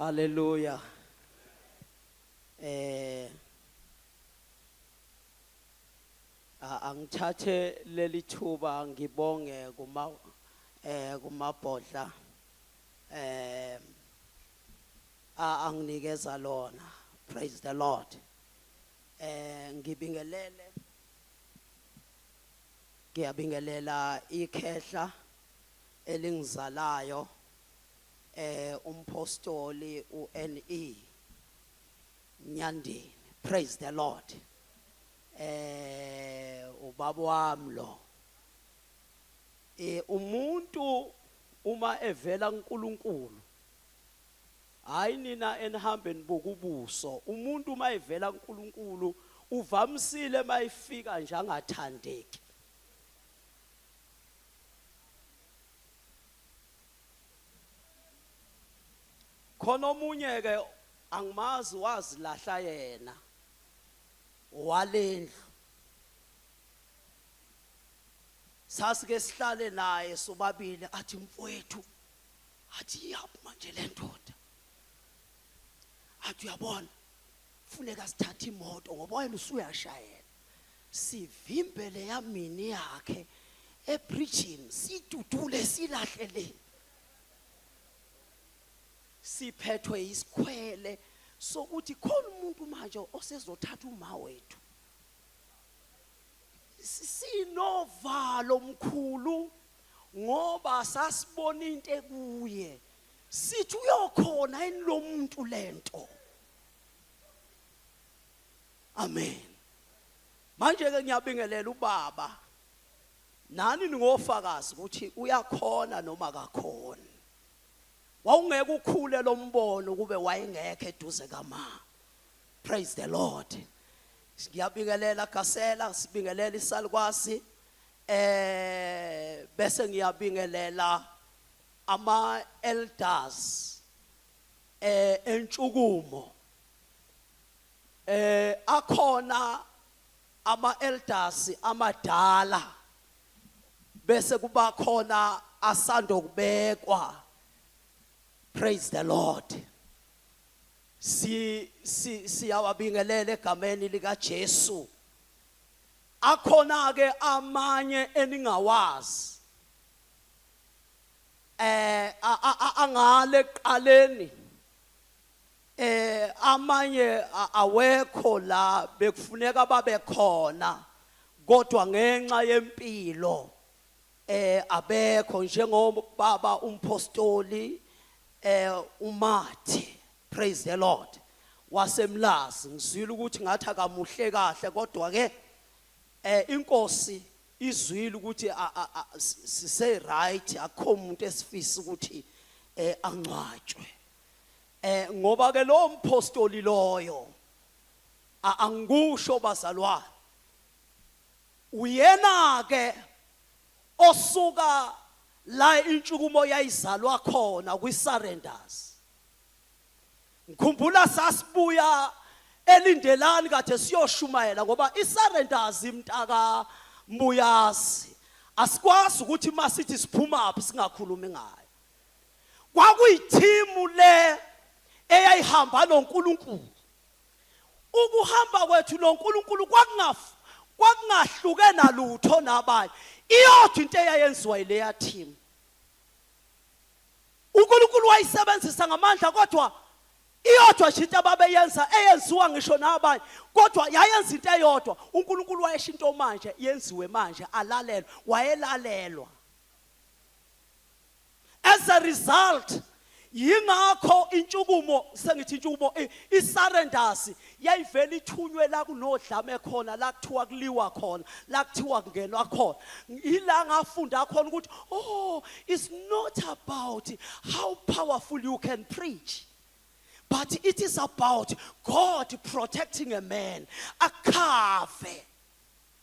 Haleluya. Eh angithathe leli thuba ngibonge kuma eh kumabhodla eh anginikeza lona praise the lord eh ngibingelele Ngiyabingelela ikhehla elingizalayo eh umpostoli uNE Nyandeni praise the lord eh ubaba wami lo eh umuntu uma evela kuNkulunkulu Hayi nina enihambe nibuka ubuso umuntu uma evela kuNkulunkulu uvamisile uma efika nje angathandeki. Khona omunye ke angimazi wazilahla yena walendlu sasike sihlale naye sobabili athi mfowethu athi iyaphuma nje le ndoda athi uyabona funeka sithathe imoto ngoba wena usuyashayela sivimbe le yamini yakhe ebridgini sidudule silahle le siphethwe isikhwele sokuthi khona umuntu manje osezothatha uma wethu sinovalo mkhulu ngoba sasibona into ekuye sithi uyokhona yini lo muntu lento amen manje ke ngiyabingelela ubaba nani ningofakazi ukuthi uyakhona noma akakhona wawungeke ukhule lo mbono kube wayengekho eduze kama praise the lord ngiyabingelela gasela sibingelela isalukwazi eh bese ngiyabingelela ama elders eh entshukumo eh akhona ama elders amadala bese kuba khona asando kubekwa praise the lord si siyawabingelela egameni lika Jesu Akhona-ke amanye eningawazi eh angale ekuqaleni eh amanye awekho la bekufuneka babe khona kodwa ngenxa yempilo eh abekho njengobaba umpostoli eh uMathi Praise the Lord. Wasemlazi ngizwile ukuthi ngathi akamuhle kahle kodwa ke eh inkosi izwile ukuthi a- a- a- si- sise right akho umuntu esifisa ukuthi eh angcwatshwe. Eh ngoba ke lo mpostoli loyo a- angikusho bazalwane. Uyena ke osuka la intshukumo yayizalwa khona kwi surrenders. ngikhumbula sasibuya elindelani kade siyoshumayela ngoba isurrenders imntaka mbuyazi asikwazi ukuthi masithi siphuma aphi singakhulumi ngayo kwakuyithimu le eyayihamba noNkulunkulu ukuhamba kwethu noNkulunkulu kwakungafu kwakungahluke nalutho nabanye iyodwa into eyayenziwa ileya team uNkulunkulu wayisebenzisa ngamandla kodwa iyodwa nje into ababeyenza eyenziwa ngisho nabanye kodwa yayenza into eyodwa uNkulunkulu wayesho into manje yenziwe manje alalelwe wayelalelwa as a result yingakho intshukumo sengithi intshukumo isarendasi yayivele ithunywe la kunodlame khona la kuthiwa kuliwa khona la kuthiwa kungenwa khona yila ngafunda khona ukuthi oh it's not about how powerful you can preach but it is about God protecting a man akhave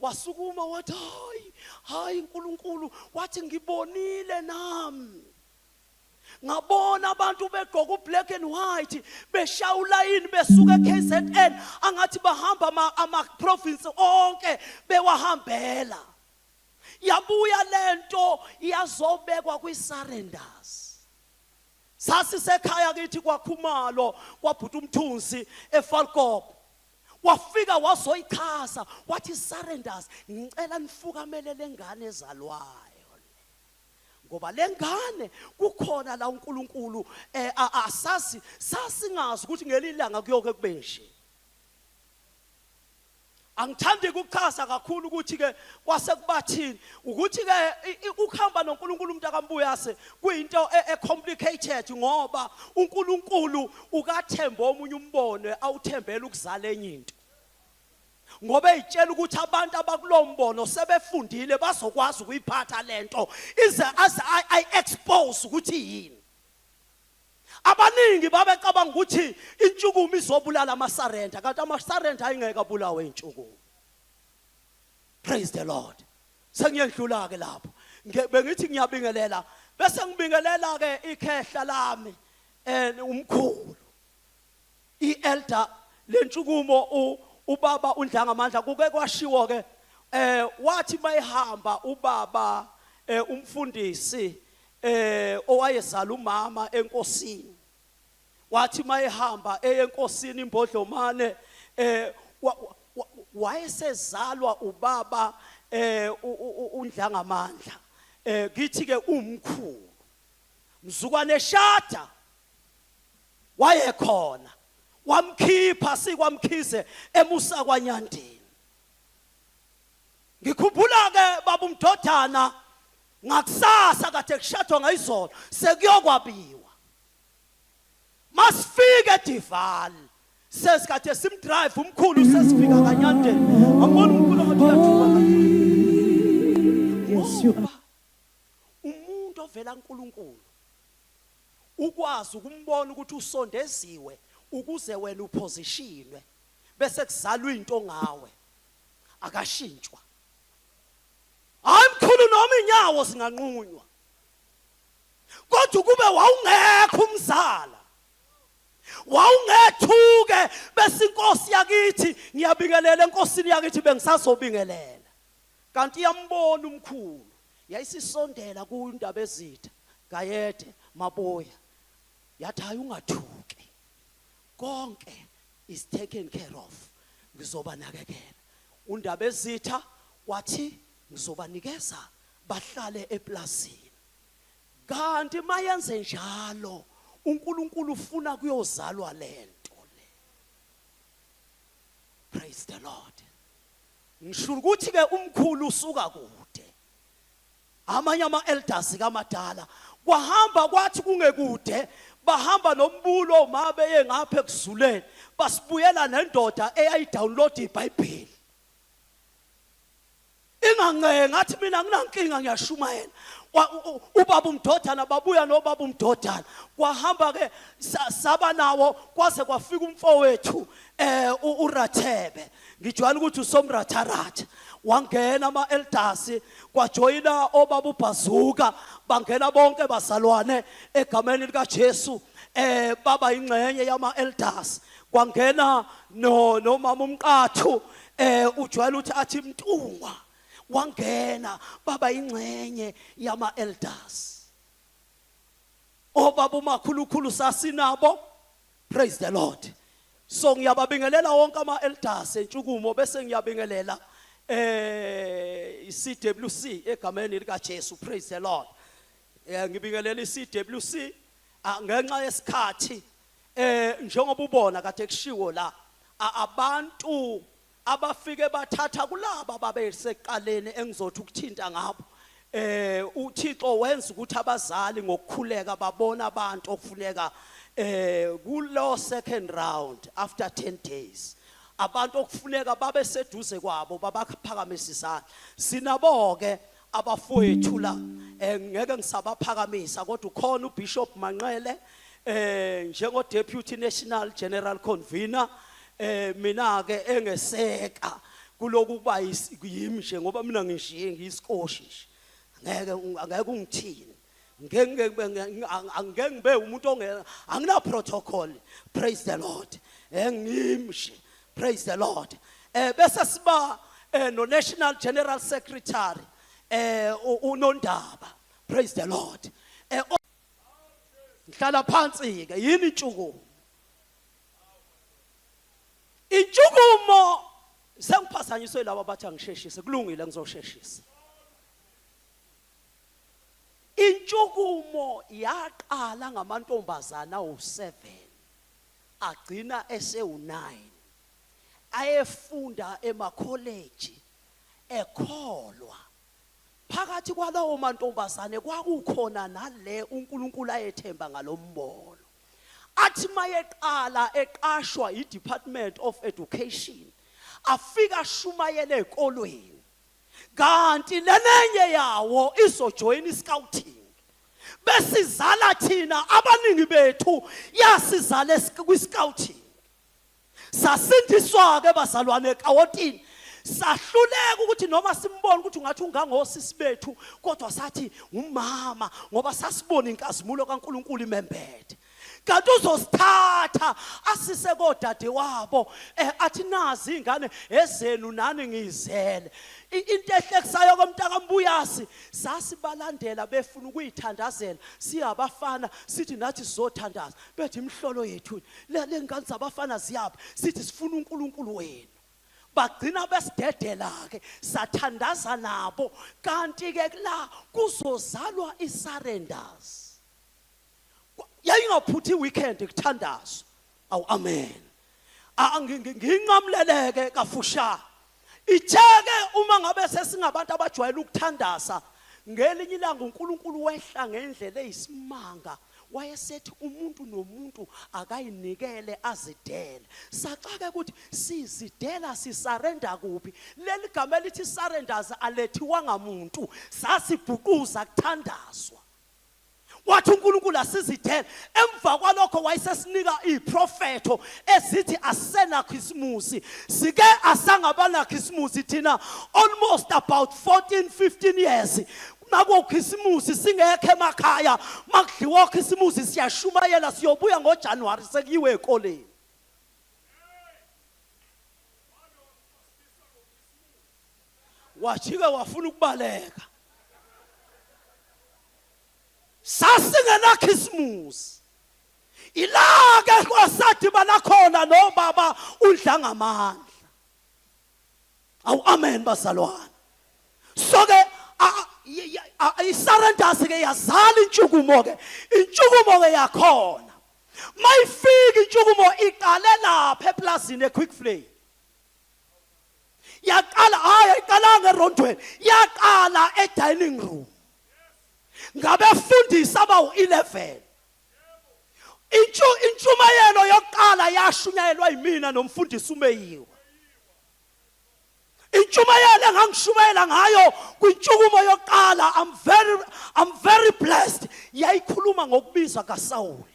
wasukuma wathi hayi hayi uNkulunkulu wathi ngibonile nami ngabona abantu begqoka ublack and white beshaya ulayini besuka eKZN angathi bahamba ama, ama province onke bewahambela yabuya lento yazobekwa kwi surrenders sasisekhaya kithi kwakhumalo kwabhuta umthunzi efalkop wafika wazoyichaza wathi surrenders ngicela nifukamele lengane ezalwayo ngoba lengane kukhona la uNkulunkulu eh, asazi sasingazi ukuthi ngelilanga kuyoke kube nje angithandi ukuchaza kakhulu ukuthi ke kwase kubathini ukuthi ke ukuhamba noNkulunkulu umuntu akambuyase kuyinto e, e complicated ngoba uNkulunkulu ukathembe omunye umbono awuthembela ukuzala enye into ngoba ezitshela ukuthi abantu abakulombono sebefundile bazokwazi ukuyiphatha lento ize as i expose ukuthi yini abaningi babecabanga ukuthi intshukumo izobulala amasarenda kanti amasarenda ayingeke abulawe intshukumo praise the lord sengiyedlula ke lapho Nge- bengithi ngiyabingelela bese ngibingelela ke ikhehla lami eh umkhulu ielder lentshukumo u- ubaba undlanga amandla kuke kwashiwo ke eh wathi mayihamba ubaba eh umfundisi eh owayezala umama enkosini wathi mayehamba eye enkosini imbodlomane eh wayesezalwa ubaba eh undlangamandla eh kithi ke umkhulu mzukwane eshada wayekhona wamkhipha sikwamkhize emusa kwanyandini ngikhumbula ke babu mdodana ngakusasa kade kushadwa ngayizolo sekuyokwabiwa masifike edival sesikade simdrive umkhulu sesifika kanyandeni ambona umkhulu ngathi uyathuka ngoba umuntu ovela nkulunkulu ukwazi ukumbona ukuthi usondeziwe ukuze wena uphosishinwe bese kuzalwa into ngawe akashintshwa hayi mkhulu noma inyawo singanqunywa kodwa ukube wawungekho umzala wawungethuke bese inkosi yakithi ngiyabingelela enkosini yakithi bengisazobingelela kanti iyambona umkhulu yayisisondela kundaba ezitha gayede maboya yathi hayi ungathuki konke is taken care of ngizobanakekela undaba ezitha wathi ngizobanikeza bahlale eplazini kanti mayenze njalo uNkulunkulu ufuna kuyozalwa lento le praise the lord ngisho ukuthi ke umkhulu usuka kude amanye ama elders kamadala kwahamba kwathi kungekude bahamba nombulo uma beye ngapha ekuzuleni basibuyela nendoda eyayidownload iBhayibheli inganceke ngathi mina nginankinga ngiyashumayela ubaba umdodana babuya nobaba umdodana kwahamba ke saba nawo kwaze kwafika umfowethu eh urathebe ngijwayele ukuthi usomratharatha wangena ama elders kwajoyina obaba ubhazuka bangena bonke bazalwane egameni lika Jesu eh baba ingxenye yama elders kwangena no nomama umqathu eh ujwayele ukuthi athi mntungwa wangena baba ingxenye yama elders obaba umakhulukhulu sasinabo praise the lord so ngiyababingelela wonke ama elders entshukumo bese ngiyabingelela eh iCWC egameni lika Jesu praise the lord eh ngibingelela iCWC ah, ngenxa yesikhathi Eh njengoba ubona kade kushiwo la abantu abafike bathatha kulaba babeseqaleni engizothi ukuthinta ngabo eh uThixo wenza ukuthi abazali ngokukhuleka babona abantu okufuneka eh kulo second round after 10 days abantu okufuneka babe seduze kwabo babakuphakamisa isandla sinabo ke abafowethu la eh, ngeke ngisabaphakamisa kodwa ukhona uBishop Manqele eh njengo deputy national general convener eh mina ke engeseka kuloku kuba yimi nje ngoba mina ngishiye ngisikoshi nje ngeke ngeke ungithini angeke ngibe umuntu ongena angina protocol praise the lord engimshe eh, praise the lord eh bese siba eh, no national general secretary eh unondaba praise the lord eh ngihlala phansi ke yini intshukumo intshukumo sengiphazanyiswe laba bathi angisheshise kulungile ngizosheshisa Intshukumo yaqala ngamantombazana awu-7 agcina esewu-9 ayefunda emakholeji ekholwa. Phakathi kwalawo mantombazane kwakukhona nale uNkulunkulu ayethemba ngalombono. Athi mayeqala eqashwa iDepartment of Education afika ashumayele ezikolweni. kanti lenenye yawo izojoyina iscouting besizala thina abaningi bethu yasizale kwiscouting sasindiswa ke bazalwane ekawotini sahluleka ukuthi noma simbone ukuthi ungathi ungangosisi bethu kodwa sathi ngumama ngoba sasibona inkazimulo kaNkuluNkulu imembethe kanti uzosithatha asise kodade wabo eh athi nazi ingane ezenu nani ngizele into ehlekisayo komntaka mbuyasi sasibalandela befuna ukuyithandazela siyabafana sithi nathi sizothandaza bethi imhlolo yethu le ngane zabafana ziyaphi sithi sifuna uNkulunkulu wenu bagcina besidedela ke sathandaza nabo kanti ke la kuzozalwa isurrenders Kwa- yayingaphuthi iweekend kuthandazo awu amen A- ngi- ngi- nginqamuleleke kafushane itheke uma ngabe sesingabantu abajwayele ukuthandaza ngelinye ilanga unkulunkulu wehla ngendlela eyisimanga wayesethi umuntu nomuntu akayinikele azidele saxake ukuthi sizidela sisarenda kuphi leli gama elithi surrenders alethiwanga muntu sasibhuquza kuthandazwa wathi uNkulunkulu asizidele emva kwalokho wayesesinika iprofetho ezithi asenakho isimusi sike asangabanakho isimusi thina almost about 14 15 years nakokhisimusi singekho emakhaya makudliwa khisimusi siyashumayela siyobuya ngoJanuary sekuyiwe ekoleni wajika wafuna ukubaleka sasingenakhisimusi ilake kwasadibana khona nobaba udlangamandla awu amen bazalwane so ke isarendasi ke yazala intshukumo ke intshukumo ke yakhona mayifika intshukumo iqale lapha eplazini equick flame yaqala hayi ayiqalanga erondweni yaqala edining room ngabefundisi abawu-11 intshumayelo yokuqala yashunyayelwa yimina nomfundisi umeyiwa intshumayelo engangishumayela ngayo kwintshukumo yokuqala i'm very i'm very blessed yayikhuluma ngokubiza kasawule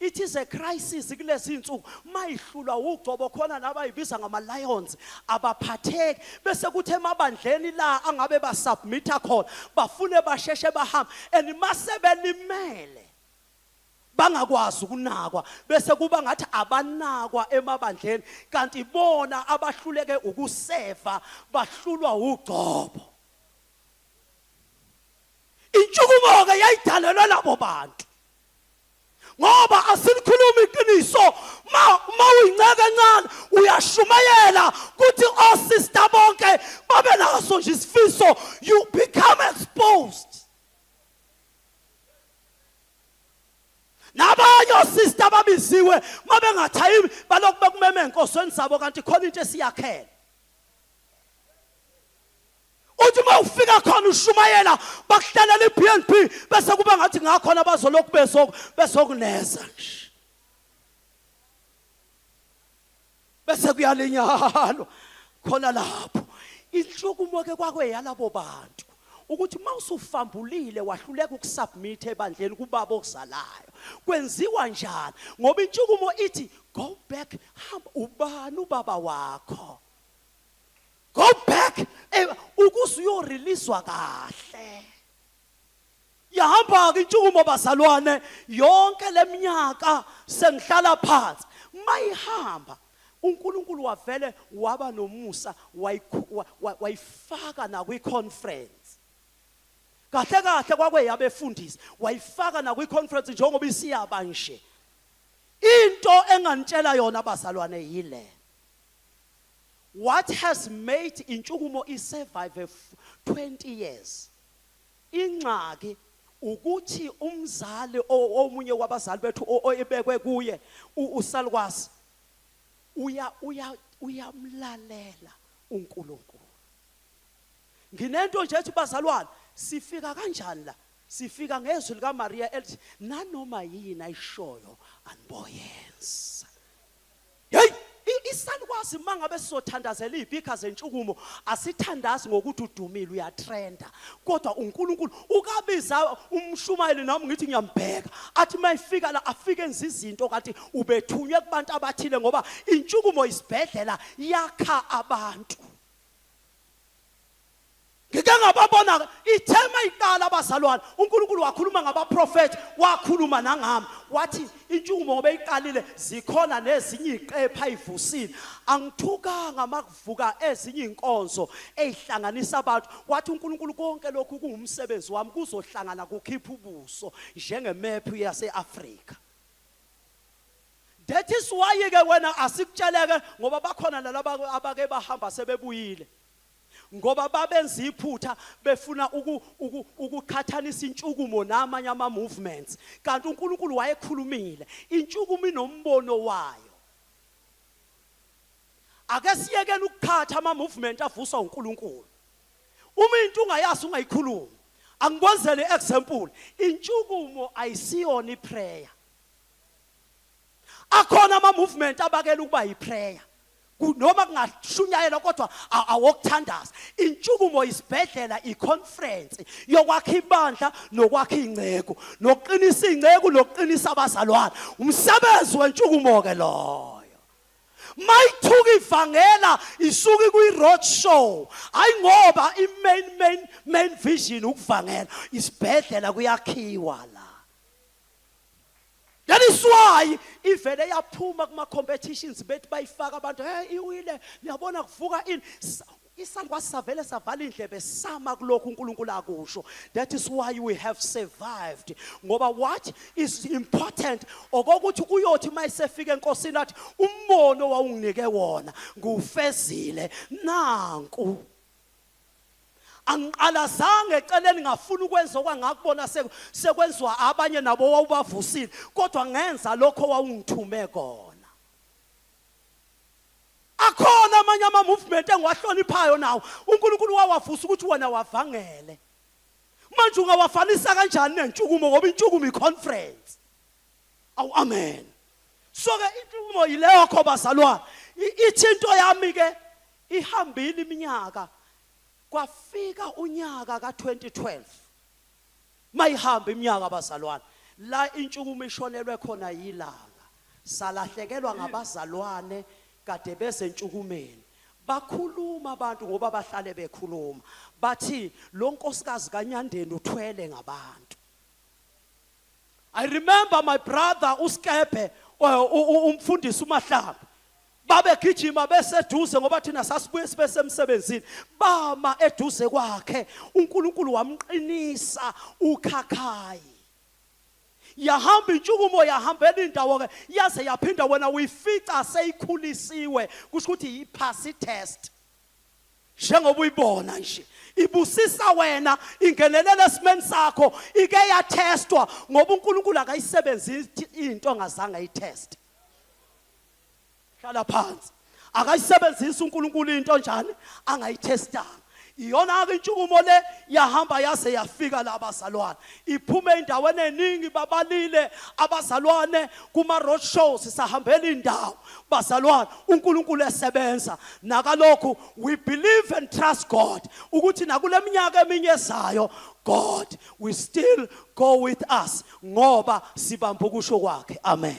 It is a crisis kulezi insuku mayihlulwa ugcobo khona nabayibiza ngama lions abaphatheki bese kuthi emabandleni la angabe ba submita khona bafune basheshe bahamba and mase belimele bangakwazi ukunakwa bese kuba ngathi abanakwa emabandleni kanti bona abahluleke ukuseva bahlulwa ugcobo intshukumo ke yayidalelwe labo bantu ngoba asilikhulumi iqiniso ma uma uyinceke encane uyashumayela ukuthi osista bonke babe naso nje isifiso you become exposed nabanye osista babiziwe uma bengathayi balokhu bekumeme enkosweni zabo kanti khona into esiyakhela uthi uma ufika khona ushumayela bakuhlalela i-bnb bese kuba ngathi ngakhona bazolokhu besokuneza nje bese kuyalinyalwa khona lapho inhlukumo ke kwakweyalabo bantu ukuthi uma usufambulile wahluleka ukusubmit ebandleni kubaba okuzalayo kwenziwa njani ngoba intshukumo ithi go back hamba ubani ubaba wakho go back eh, ukuze uyoreleaswa kahle yahamba-ke intshukumo bazalwane yonke le minyaka sengihlala phansi mayihamba uNkulunkulu wavele waba nomusa wayifaka nakwi-conference kahle kahle kwakweyabefundisi wayifaka nakwi-conference njengoba isiyaba nje into engangitshela yona bazalwane yile What has made intshukumo isurvive 20 years? Ingxaki ukuthi umzali omunye wabazali bethu oyibekwe kuye usalukwazi uya uya uyamlalela uNkulunkulu nginento nje ethi bazalwane sifika kanjani la sifika ngezwi likaMaria elithi nanoma yini ayishoyo aniboyenza Hey! Isalukwazi mangabe sizothandazela izipika zentshukumo asithandazi ngokuthi udumile uyatrenda kodwa uNkulunkulu ukabiza umshumayeli nami ngithi ngiyambheka athi mayifika la afike enza izinto kanti ubethunywe kubantu abathile ngoba intshukumo isibhedlela yakha abantu Ngike ngababona ithema iqala abazalwane uNkulunkulu wakhuluma ngabaprofethi wakhuluma nangami wathi intshukumo ngoba iqalile zikhona nezinye iqepha ayivusile angithukanga makuvuka ezinye inkonzo ezihlanganisa abantu wathi uNkulunkulu konke lokhu kungumsebenzi wami kuzohlangana kukhipha ubuso njengemephu yaseAfrika That is why ke wena asikutsheleke ngoba bakhona nalabo abake bahamba sebebuyile ngoba babenza iphutha befuna uku, uku, ukuqhathanisa intshukumo namanye ama-movements kanti unkulunkulu wayekhulumile intshukumo inombono wayo ake siyekele ukuqhatha ama-movement avuswa unkulunkulu uma into ungayazi ungayikhulumi angikwenzele i-example intshukumo ayisiyona iprayer akhona ama-movement abakela ukuba yiprayer Ku- noma kungashunyayelwa kodwa a- awokuthandaza intshukumo isibhedlela iconference yokwakha ibandla nokwakha iy'nceku nokuqinisa iy'nceku nokuqinisa abazalwane umsebenzi wentshukumo-ke loyo mayithuka ivangela isuke kwi-road show hayi ngoba i-main main main vision ukuvangela isibhedlela kuyakhiwa la That is why ivele yaphuma kuma competitions bethi bayifaka abantu hey iwile niyabona kuvuka ini isandwa savele savala indlebe sama kulokhu uNkulunkulu akusho that is why we have survived ngoba what is important okokuthi uyothi mayisefika enkosini athi umbono wawunginike wona ngufezile nanku angiqalazanga eceleni ngafuna ukwenza okwangakubona sekwenziwa abanye nabo wawubavusile kodwa ngenza lokho wawungithume kona akhona amanye ama-movement engiwahloniphayo nawo unkulunkulu wawavusa ukuthi wena wavangele manje ungawafanisa kanjani nentshukumo ngoba intshukumo i-conference awu amen so-ke intshukumo yileyo kho bazalwane ithi into yami-ke Ihambile iminyaka kwafika unyaka ka 2012 mayihamba iminyaka abazalwane la intshungumo ishonelwe khona yilanga salahlekelwa ngabazalwane kade bezentshukumeni bakhuluma abantu ngoba bahlale bekhuluma bathi lo nkosikazi kanyandeni uthwele ngabantu i remember my brother uskebhe umfundisi umahlaba babegijima beseduze ngoba thina sasibuye sibe semsebenzini bama eduze kwakhe uNkulunkulu wamqinisa ukhakhayi yahamba intshukumo yahambela indawo ke yaze yaphinda wena uyifica seyikhulisiwe kusho ukuthi yiphasi test njengoba uyibona nje ibusisa wena ingenelela esimeni sakho ike yatestwa ngoba uNkulunkulu akayisebenzisi into angazange ayiteste hlala phansi akayisebenzisi uNkulunkulu into njani angayithestanga iyona ke intshukumo le yahamba yaze yafika la bazalwane iphume endaweni eningi babalile abazalwane kuma road shows sahambela indawo bazalwane uNkulunkulu esebenza nakalokhu we believe and trust God ukuthi nakuleminyaka eminye ezayo God we still go with us ngoba sibamba ukusho kwakhe amen